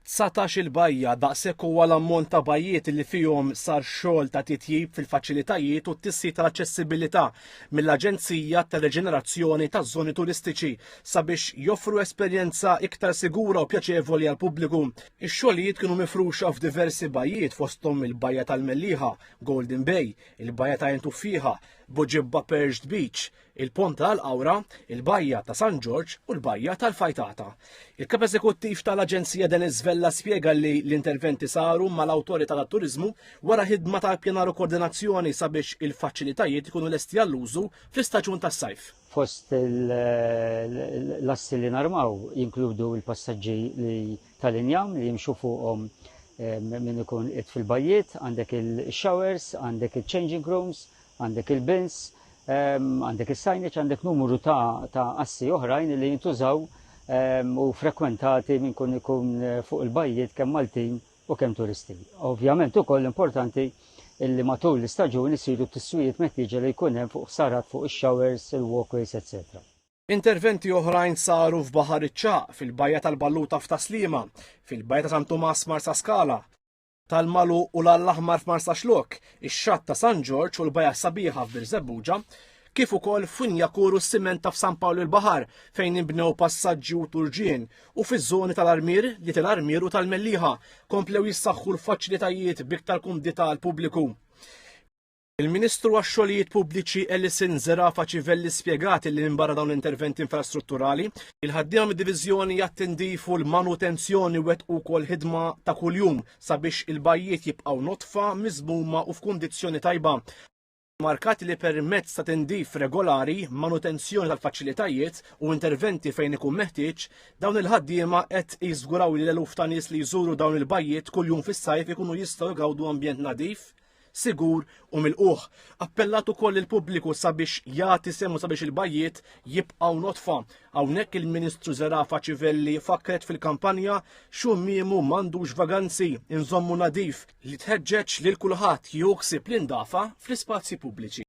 Dsatax-il bajja, daqshekk huwa l-ammont ta' bajjiet li fihom sar xogħol ta' titjib fil-faċilitajiet u t-tisħiħ tal-aċċessibilità mill-Aġenzija tar-Reġenerazzjoni taż-Żoni Turistiċi sabiex joffru esperjenza iktar sigura u pjaċevoli għall-pubbliku. Ix-xogħlijiet kienu mifruxa f'diversi bajjiet fosthom il-Bajja tal-Mellieħa, Golden Bay, il-Bajja ta' Għin Tuffieħa, Buġibba Perched Beach, il-Pont ta' l-Qawra, il-Bajja ta' San Ġorġ u l-Bajja tal-Fajtata. Il-Kap Eżekuttiv ta' l-Aġenzija Denis Vella spjega li l-interventi saru ma' l-Awtorità tat-Turiżmu wara ħidma ta' ippjanar u koordinazzjoni sabiex il-faċilitajiet ikunu lesti għall-użu fl-istaġun tas-sajf. Fost l-assi li narmaw jinkludu l-passaġġi li ta' l-injam li jimxu fuqhom min ikun qiegħed fil-bajjiet, għandek il-showers, għandek il-changing rooms, Għandek il-bins, għandek is-sajniċ, għandek numru ta' assi oħrajn li jintużaw u frekwentati minn kun ikun eh, fuq il-bajjiet kemm Maltin u kemm turisti. Ovvjament ukoll importanti illi matul l-istaġun isiru t-tiswijiet meħtieġa li jkun hemm fuq sarat fuq ix-showers, il-walkways, etc. Interventi oħrajn saru f'Baħar iċ-Ċaq, fil-Bajja tal-Balluta f'Taslima, fil-Bajja ta' San Tumas Marsa Skala, tal-Malu u l għall Aħmar f'Marsaxlokk, ix-Xatt ta' San Ġorġ u l-Bajgħa Sabiħa f'Birżebbuġa, kif ukoll f'Funjakur u s-Siment ta' f'San Pawl il-Baħar fejn inbnew passaġġi u turġien u fiż-żoni tal-Armier, li tal-Armier u tal-Mellieħa komplew jissaħħu l-faċilitajiet b'iktar kumdità għall-pubbliku. Il-Ministru għax-Xogħlijiet Pubbliċi Alison Zerafa Civelli spjegat li minbarra dawn l-interventi infrastrutturali, il-ħaddiema mid-Diviżjoni għat-Tindif u l-Manutenzjoni wettqu wkoll ħidma ta' kuljum sabiex il-bajjiet jibqgħu nodfa, miżmuma u f'kundizzjoni tajba. Markat li permezz ta' tindif regolari, manutenzjoni tal-faċilitajiet u interventi fejn ikun meħtieġ, dawn il-ħaddiema qed jiżguraw li l-eluf ta' nies li jżuru dawn il-bajjiet kuljum fis-sajf ikunu jistgħu jgawdu ambjent nadif, sigur u milqugħ. Appellat ukoll lill-pubbliku sabiex jagħti semu sabiex il-bajjiet jibqgħu notfa. Hawnhekk il-Ministru Zerafa Civelli fakkret fil-kampanja xummiemu m'għandux vaganzi, inżommu nadif li tħeġġeġ lil kulħadd jieħu ħsieb l-indafa fl-ispazji pubbliċi.